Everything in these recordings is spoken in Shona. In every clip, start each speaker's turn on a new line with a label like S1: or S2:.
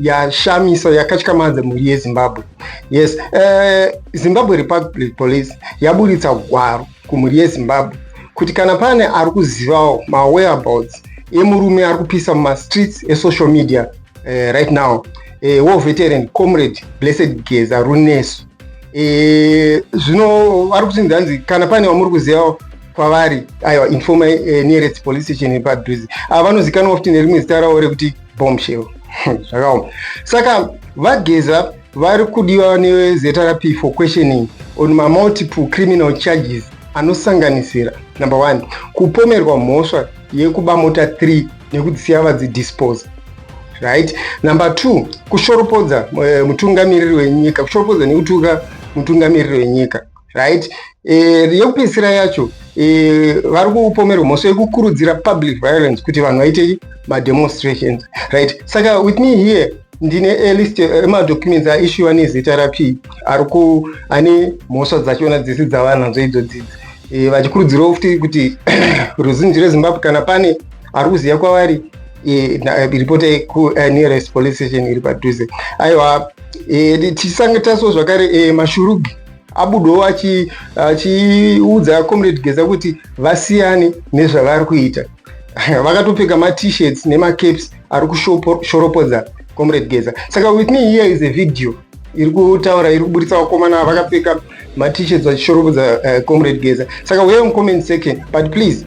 S1: yashamisa yakatyamadza mhuri yezimbabwe yes uh, zimbabwe republic police yaburitsa gwaro kumhuri yezimbabwe kuti kana pane ari kuzivawo mawhereabouts emurume ari kupisa mumastreets esocial media uh, right now uh, war veteran comrade blessed geza runesu uh, zvino ari kuti ndanzi kana pane wamuri kuzivawo kwavari aiwa informa uh, eh, nearest police station yepadhuze ava vanozikanwa futi nerimwe zita ravo rekuti bombshell zvakaoma saka vageza vari kudiwa nezrp for questioning on mamultiple criminal charges anosanganisira number one kupomerwa mhosva yekuba mota 3 nekudzisiya vadzidispose right number two kushoropodza eh, mutungamiriri wenyika kushoropodza nekutuka mutungamiriri wenyika right e, yekupedzisira yacho e, vari kupomerwa mhosva yekukurudzira public violence kuti vanhu vaite mademonstrations right saka with me here ndine alist emadocuments aishuwa nezita rapi ari ku ane mhosva dzachona dzese dzavanadzo idzo dzidzi e, vachikurudzirawo futi kuti ruzhinji rezimbabwe kana pane ari kuziva kwavari e, ripota kunearest e, police station iri padhuze aiwa e, tisange taso zvakare e, mashurugi abudewo achiudza achi comrade geza kuti vasiyane nezvavari kuita vakatopfeka matshirt nemacaps ari kushoropodza comrade geza saka with me here is a video iri kutaura iri kuburitsa vakomana vakapfeka matshirt vachishoropodza uh, comrade geza saka uyewo mucomment section but please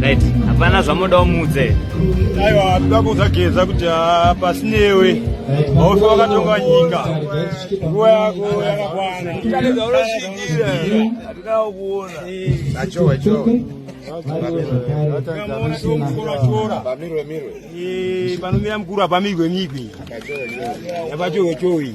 S2: right hapana zvamoda umudze aiwa toda
S3: kuzageza kuti ah, pasi newe haufe wakatonga nyika nguva yako yakakwana taedza unosvikira hatina kuona
S4: achowa
S3: chowa panomira mukuru hapamirwe migwi apachowe chowe